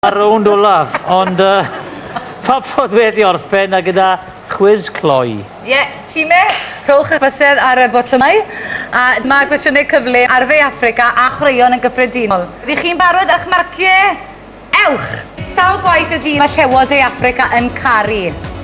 Ar rownd olaf, ond uh, pa ffordd wedi orffen a gyda chwiz cloi. Ie, yeah, time, rhowch eich bysedd ar y botymau, a dyma gwestiynau cyfle ar dde Africa a chwaraeon yn gyffredinol. Ydych chi'n barod a'ch marciau? Ewch! Sawl gwaith y dydd mae llewod dde Africa yn caru?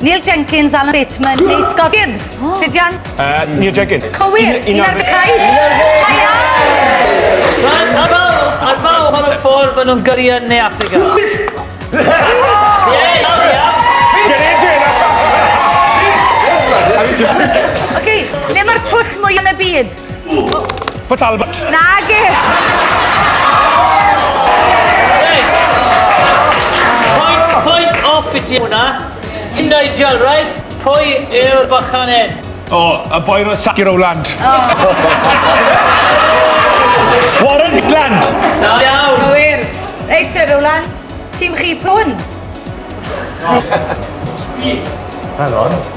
Neil Jenkins, Alan Bateman neu Scott Gibbs? Rhydian? Uh, Neil Jenkins. Cywir, un ar dy cais. Rhaid, a fawr, a fawr, pan y ffordd maen nhw'n gyrru yn Ne Africa. Oce, le mae'r twll mwy yn y byd? Port Albert. Nag e! Point, point off i ti hwnna. Ti'n dweud gel, right? Pwy yw'r bachan hyn? O, y boi roedd sac i Rowland. Warren Hitland. Da iawn. Gywir. Reit, Sir Rowland. Tîm chi pwn. Hang on.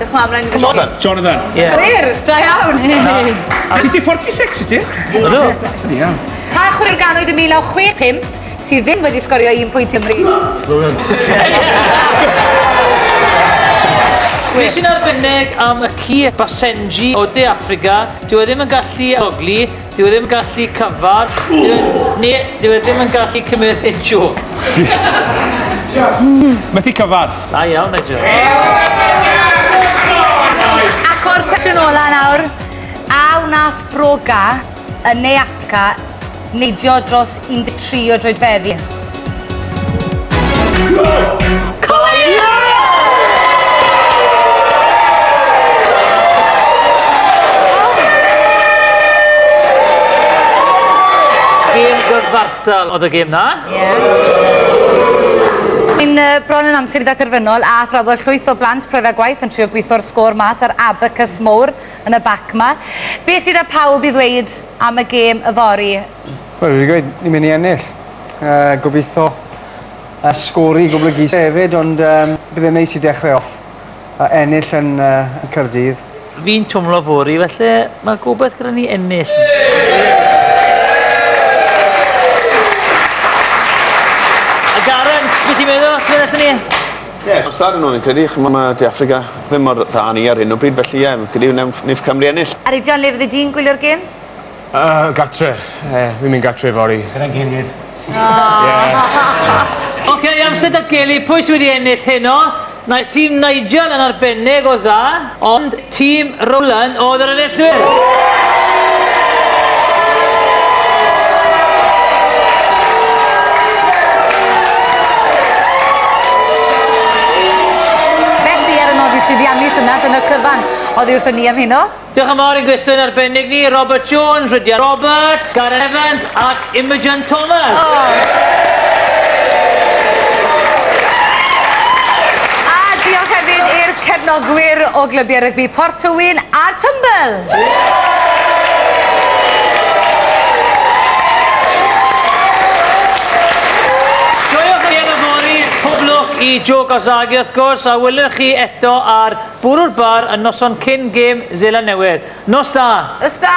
Diolch mam, rhaid i fi... Jonathan. Jonathan. Yeah. Chwer, da iawn. Hey. A ti 46 i ti? Ydw. Iawn. Pa chwer ganwyd y 1965 sydd ddim wedi sgorio un pwynt ymri? Rwy'n. Nes i'n arbennig am y ci Basenji o De Africa, dyw e ddim yn gallu ogli, Dyw e ddim yn gallu cyfarch. Dyw e, ne, dyw e ddim yn gallu cymryd hit joke. Methu cyfarch. Da iawn, Nigel. Ac o'r cwestiwn ola nawr, a wnaeth Broga yn Neapca neidio dros 13 o droedfeddi. Cyfartal oedd y gêm na. Yn uh, bron yn amser i ddaterfynol a thrafod llwyth o blant prof a gwaith yn trio gweithio'r sgôr mas ar abacus mowr yn y bac ma. Be sydd â pawb i ddweud am y gêm yfori? Wel fi 'di gweud ni myn' i ennill. Yy gobitho yy sgôr i goblygu hefyd ond yym bydd e'n neis i dechre off a ennill yn yy yn Caerdydd. Fi'n twmlo fory felly ma' gobeth gyda ni ennill. A Darren be' ti'n meddwl? Lle nethon ni? Ie ma'n sad o'n i credu ch'mo' ma' De Affrica ddim mor dda â ni ar hyn o bryd felly ie fi'n credu newn neith Cymru ennill. Arian le fyddi di'n gwylio'r gêm? Yy gatre. Yy fi'n mynd gatre fory. Gyda'n gilydd. Aww. Oce, amser datgelu pwy sy wedi ennill heno. Naeth tîm Nigel yn arbennig o dda, ond tîm Rowland oedd yr enillwyr! Felly, ar y nod i llwyddiannu, syniad yn y cyfan oddi wrthon ni am heno. Diolch yn fawr i'n gwesteion arbennig ni, Robert Jones, Rhydian Roberts, Gareth Evans ac Imogen Thomas. A diolch hefyd i'r cefnogwyr o glybiau rygbi Port Tywyn a Tymbl. Joiwch ei yn y fory, pob lwc i Jo Gozagi wrth gwrs, a welwn chi eto ar Bwrw'r bar y noson cyn gêm Seland Newydd. Nos da! Nos da!